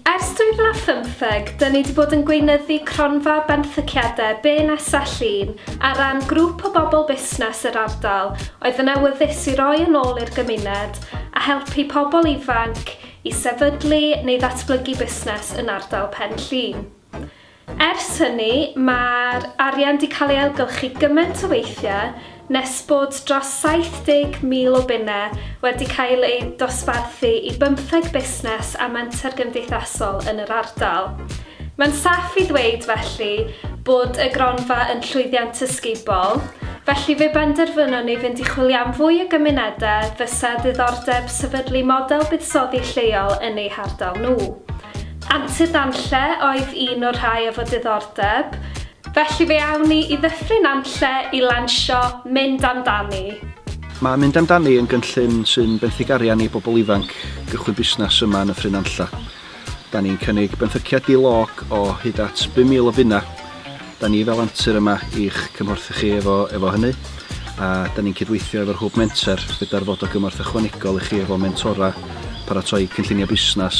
Ers 2015, dyn ni wedi bod yn gweinyddu cronfa benthyciadau BNSA Llun ar ran grŵp o bobl busnes yr ardal oedd yn awyddus i roi yn ôl i'r gymuned a helpu pobl ifanc i sefydlu neu ddatblygu busnes yn ardal Pen Llŷn. Ers hynny, mae'r arian 'di cael ei ailgylchu gymaint o weithiau nes bod dros 70,000 o bunnau wedi cael eu dosbarthu i bymtheg busnes a menter gymdeithasol yn yr ardal. Mae'n saff i ddweud, felly, bod y gronfa yn llwyddiant ysgubol, felly fe benderfynon ni fynd i chwilio am fwy o gymunedau fysa ddiddordeb sefydlu model buddsoddi lleol yn eu hardal nhw. Antur Nantlle oedd un o'r rhai efo diddordeb, felly fe awn ni i Ddyffryn Nantlle i lansio Mynd Amdani. Mae Mynd Amdani yn gynllun sy'n benthyg arian i bobl ifanc gychwyn busnes yma yn Nyffryn Nantlle. Da ni'n cynnig benthyciad di-log o hyd at 5,000 o bunnau. Da ni fel Antur yma i'ch cymhorthu chi efo efo hynny a da ni'n cydweithio efo'r Hwb Menter gyda'r fod o gymorth ychwanegol i chi efo mentora, paratoi cynllunio busnes,